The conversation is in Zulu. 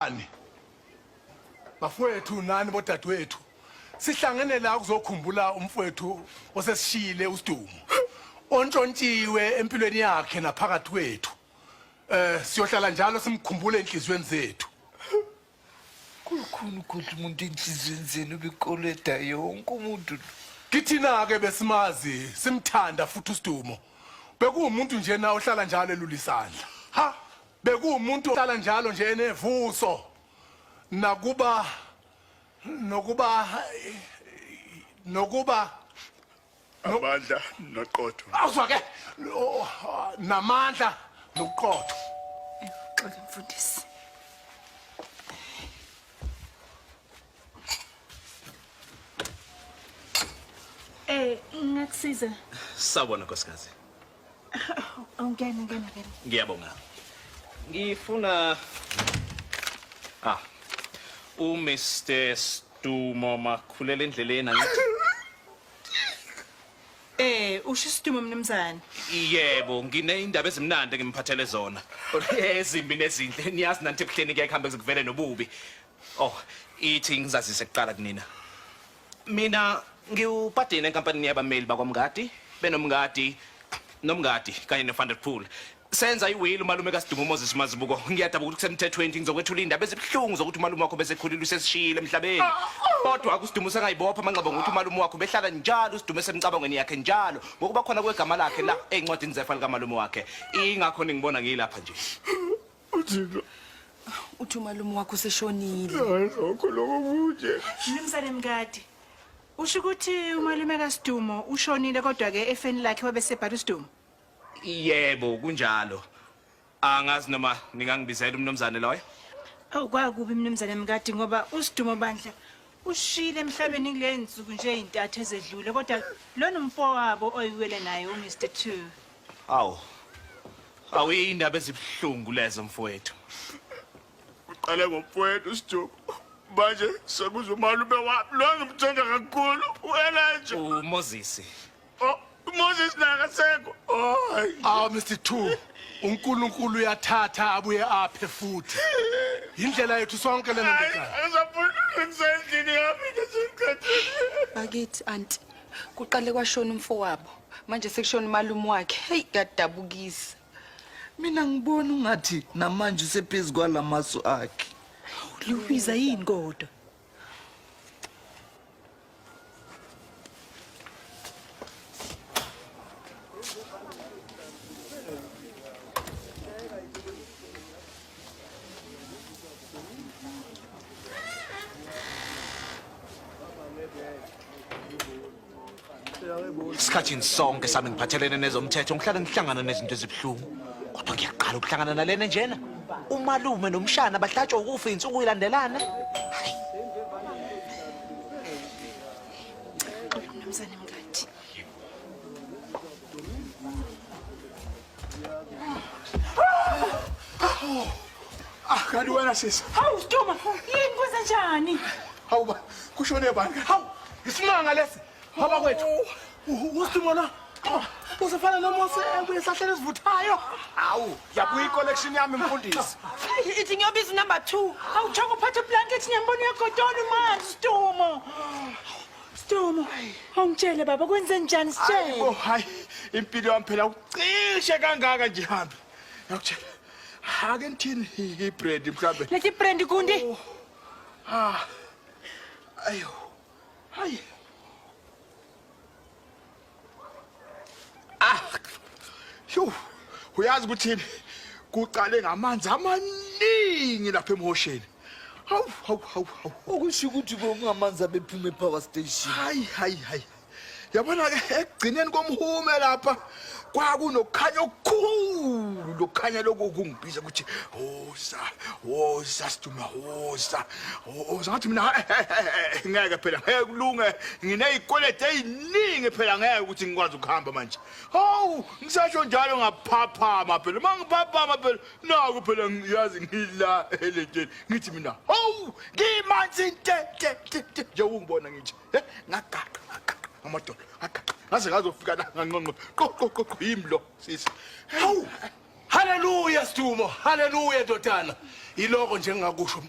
Ani. Bafowethu nani bodadewethu. Sihlangene la kuzokhumbula umfowethu osesishiyile uSidumo. Ontshontshiwe empilweni yakhe naphakathi kwethu. Eh siyohlala njalo simkhumbule enhlizweni zethu. Kukhulu ukudla umuntu enhlizweni zenu bikoleda yonke umuntu. Kithina ke besimazi simthanda futhi uSidumo. Bekuwumuntu nje na ohlala njalo elulisandla. Ha! Bekuwumuntu ohlala njalo nje enevuso nakuba nokuba nokuba amandla noqotho awuzwake namandla noqotho xola mfundisi eh ngakusiza sawubona nkosikazi Awungena, ngena, ngena. Ngiyabonga. Ngifuna ah u Mr. Stumo makhulela endleleni angithi. Eh, usho isitumo mnumzane. Yebo, ngineindaba ezimnandi engimphathele zona. Ezimbi nezinhle, niyazi nanti ebuhleni kuyakuhambe kuvele nobubi. Oh, ithi ngizazise kuqala kunina. Mina ngiwupadeni enkampanini yabameli bakwamngadi benomngadi nomngadi kanye nefanderpool senza iwili umalume kasidungu umoses mazibuko ngiyadaba ukuthi kusemthethweni nje ngizokwethula iy'ndaba ezibuhlungu zokuthi umalume wakho besekhulile usesishiyile emhlabeni ah, oh. kodwa akusidumo usengayibopha amanxeba ngokuthi umalume wakho behlala njalo usidumo esemcabangweni yakhe njalo ngokuba khona kwegama lakhe la ey'ncwadini zefa likamalume wakhe ingakho ningibona ngiyilapha nje uthixo uthi umalume wakho useshonile hayi lokho lokho kunje mnumzane mkade usho ukuthi umalume kasidumo ushonile kodwa-ke efeni lakhe wabesebhala usidumo yebo kunjalo angazi noma ningangibizela umnumzane loyo awu kwakubi mnumzane mkade ngoba usidumo bandla ushile emhlabeni kule nsuku nje ezintathu ezedlule kodwa lona umfowabo oyiwele naye umr two Awu. Awu indaba ezibuhlungu lezo mfowethu. Uqale ngomfowethu Sijuku. Manje sekuza umalume wami lo ngimthanda kakhulu. Wena nje. UMoses. Oh, uMoses naye akasekho. Hayi. Awu Mr. Two. uNkulunkulu uyathatha abuye aphe futhi yindlela yethu sonke lena ndodana bakithi anti kuqale kwashona umfowabo manje sekushona umalume wakhe heyi kuyadabukisa mina ngibona ungathi namanje usephezu kwala masu akhe liwubiza yini kodwa isikhathini sonke sami ngiphathelene nezomthetho ngihlale ngihlangana nezinto ezibuhlungu kodwa ngiyaqala ukuhlangana nalena njena umalume nomshana bahlatshwa ukufa insuku ilandelana Ah, kanti wena sisi. Hawu Stoma, yini kwenza njani? Hawu ba, kushone bani? Hawu, isimanga lesi. Baba kwethu. Usimo na? Usefana noMose ebuye esahlele esivuthayo. Hawu, yabuya icollection yami mfundisi. Ithi ngiyobiza number 2. Awuthanga uphathe blanket nyamboni yakho tona manje Stoma. Sdumo, awungitshele baba kwenze njani sitshele. Oh hayi, impilo yami phela ucishe kangaka nje hambi. Ngiyakutshela. Ake ngithini ibrand mhlambe. Lethi brand kundi. Oh. Ah. Ayo. Hayi. Ah. Sho. Uyazi ukuthini? Kuqale ngamanzi amaningi lapha emhosheni. Hawu, hawu, hawu, hawu. Okusho ukuthi kungamanzi abephuma epower station. Hayi, hayi, hayi. Yabona ke ekugcineni komhume lapha kwakunokukhanya okukhulu lokukhanya lokhu kungibiza ukuthi woza woza siduma woza O- o- Ngathi mina "Eh, eh, eh, eh, ngeke phela ngeke kulunge nginezikweleti eziningi phela ngeke ukuthi ngikwazi ukuhamba manje. Hawu ngisasho njalo ngaphaphama phela uma ngiphaphama phela naku phela ngiyazi ngila elenteni ngithi mina hawu ngimanzi nte nte nte nte nje ungibona ngithi eh, ngagaqa ngagaqa amadoda ngagaqa ngaze ngazofika la nganqonqo qo qo qo qo yimi lo sisi. Hawu haleluya Stumo haleluya ndodana iloko njengakusho mntana